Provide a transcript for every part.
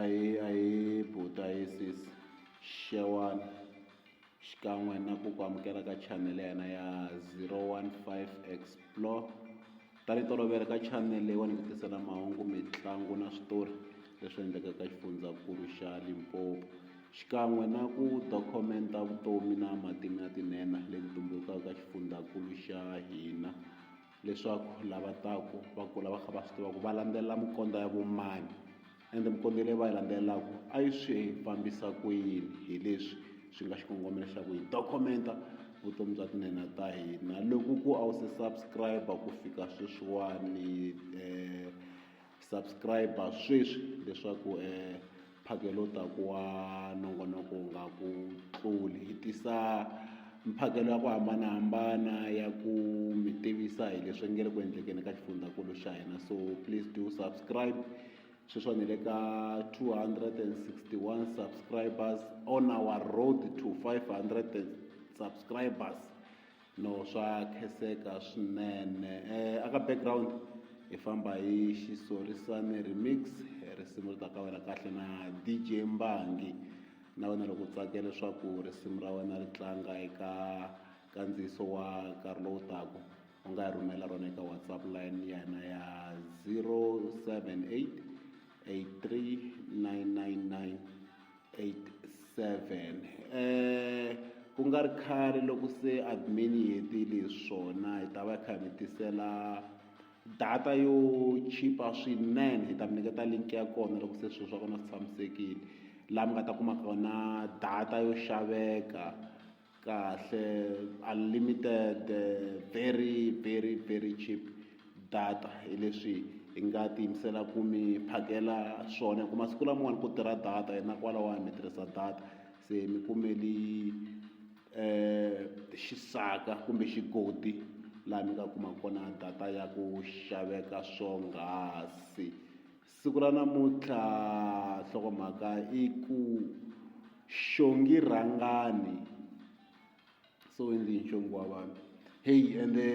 Ahee ahee buti ahee sesi xewani xikan'we na ku ku amukela ka chanele ya hina ya zero one five explore tanihi tolovele ka chanele leyiwani hi ku tisela mahungu mitlangu na switori leswi endlekaka ka xifundzankulu xa Limpopo xikan'we na ku dokumenta vutomi na matimu ya tinhenha leti tumbulukaka ka xifundzankulu xa hina. leswaku lava taka va kula va kha va swi tiva ku va landzelela minkondzo ya vo mani ende minkondzo leyi va yi landzelelaka a yi swi fambisa ku yini hi leswi swi nga xikongomelo xa ku hi dokumenta vutomi bya tinhenha ta hina loko ku a wu se subscribe ku fika sweswiwani . Subscribe sweswi leswaku e mphakelo wu ta ku wa nongonoko wu nga ku tluli hi tisa mphakelo ya ku hambanahambana ya ku mi tivisa hi leswi nge le ku endlekeni ka xifundzankulu xa hina so please do subscribe sweswo ni le ka 261 subscribers on our road to 500 subscribers No swa kheseka swinene eh, aka background hi famba hi xisorisani remix risimu ri ta ka wena kahle na dj mbangi na wena loko u tsake leswaku risimu ra wena ri tlanga eka kandziyiso wa nkarhi lowu taku u nga hi rhumela rona eka whatsapp line ya hina ya 078 83 999 87 eh ku nga ri khale loko se admin yi hetile hi swona hi ta va kha mi tisela data yo chipa swinene hi ta mi nyiketa link ya kona loko se swilo swa kona swi tshamisekile laha mi nga ta kuma kona data yo xaveka kahle unlimited very very very cheap data hi leswi hi nga ti yimisela ku mi phakela swona hi ku masiku lamawani ku tirha data hina kwalawani mi tirhisa data se mi kumeli xisaka kumbe xigodi laha mi nga kuma kona data ya ku xaveka swonghasi. Siku ra namuntlha nhlokomhaka i ku xongi rhangani so endlini xongi wa vanhu heyi ende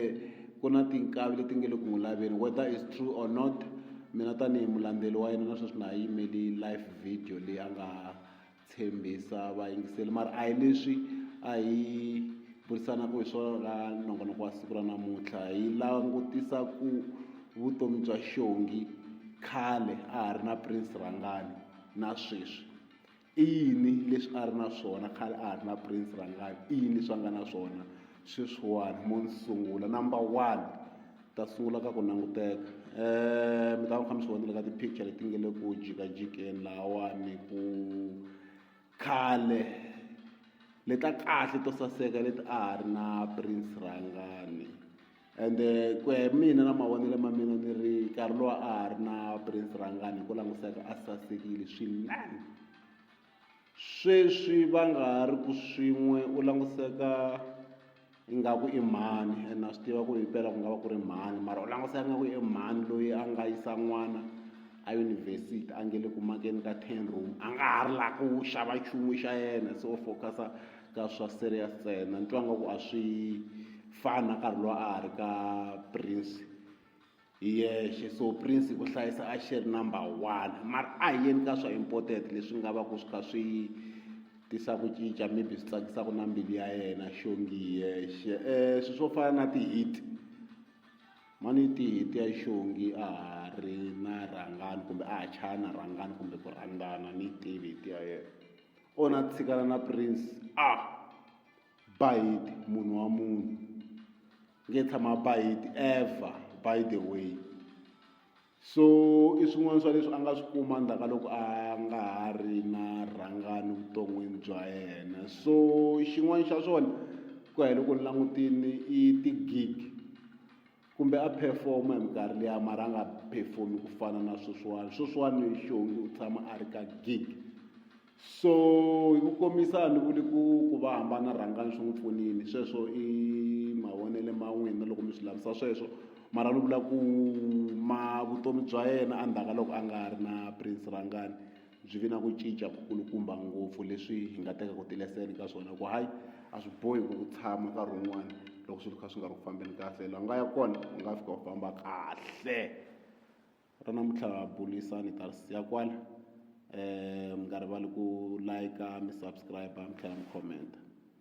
ku na tinkavi leti nge le ku n'wi laveni whether is true or not mina tanihi mulandzeli wa yena na sweswi na ha yimeli life video leyi a nga tshembisa vayingiseli mara a hi leswi a hi burisanaka hi swona ka nongonoko wa siku ra namuntlha hi langutisa ku vutomi bya xongi khale a ha ri na prince rhangani na sweswi i yini leswi a ri na swona khale a ha ri na prince rhangani i yini leswi a nga na swona Sweswiwani mo ni sungula number one ta sungula ka ku languteka um mi ta va mi kha mi swi vonile ka ti-picture leti nge le ku jikajikeni lahawani ku khale leti ta kahle to saseka leti a ha ri na prince rhangani ende ku ya hi mina na mavonelo ma mina ni ri nkarhi lowu a ha ri na prince rhangani hi ku languseka a sasekile swinene Sweswi va nga ha ri ku swin'we u languseka ingaku i mhani and na swi tiva ku ri himpela ku nga va ku ri mhani mara u languseka nga ku i mhani loyi a nga yisa n'wana a yunivhesiti a nge le ku makeni ka ten room a nga ha ri la ku xava nchumu xa yena se u focus-a ka swa serious ntsena ni twa nga ku a swi fani na nkarhi lowu a ha ri ka Prince. hi yexe so prince ku hlayisa a xi ri number one mara a hi yeni ka swa important leswi nga va ku swi kha swi tisa ku cinca maybe swi tsakisaka na mbilu ya yena xongi hi yexe um swi swo fana na ti-hit mani ti-hit ya xongi a ha ri na rhangani kumbe a ha chaya na rhangani kumbe ku rhandzana ni tivi hit ya yena o na tshikana na prince a ah. Bayiti munhu wa munhu nge tshama bayiti ever by the way so i swin'wana swa leswi a nga swi kuma ndzhaka loko a nga ha ri na rhangani vuton'wini bya yena so xin'wana xa swona ku ya hi loko ni langutini i ti-gig. Kumbe a perform hi minkarhi liya mara a nga perform ku fana na sweswiwani sweswiwani xongi u tshama a ri ka gig so hi ku komisa ni vuli ku ku va hambana rhangani swi n'wi pfunini sweswo i mavonele ma n'wina loko mi swi lavisa sweswo mara ni vula ku ma vutomi bya yena endzhaku ka loko a nga ha ri na prince rhangani byi vi na ku cinca ku kulukumba ngopfu leswi hi nga tekaka tileseni ka swona ku hayi a swi bohi ku ku tshama nkarhi wun'wana loko swilo kha swi nga ri ku fambeni kahle la nga ya kona u nga fika u famba kahle ra namuntlha bulisani ta ri siya kwala um mi nga rivali ku like mi subscribe mi tlhela mi comment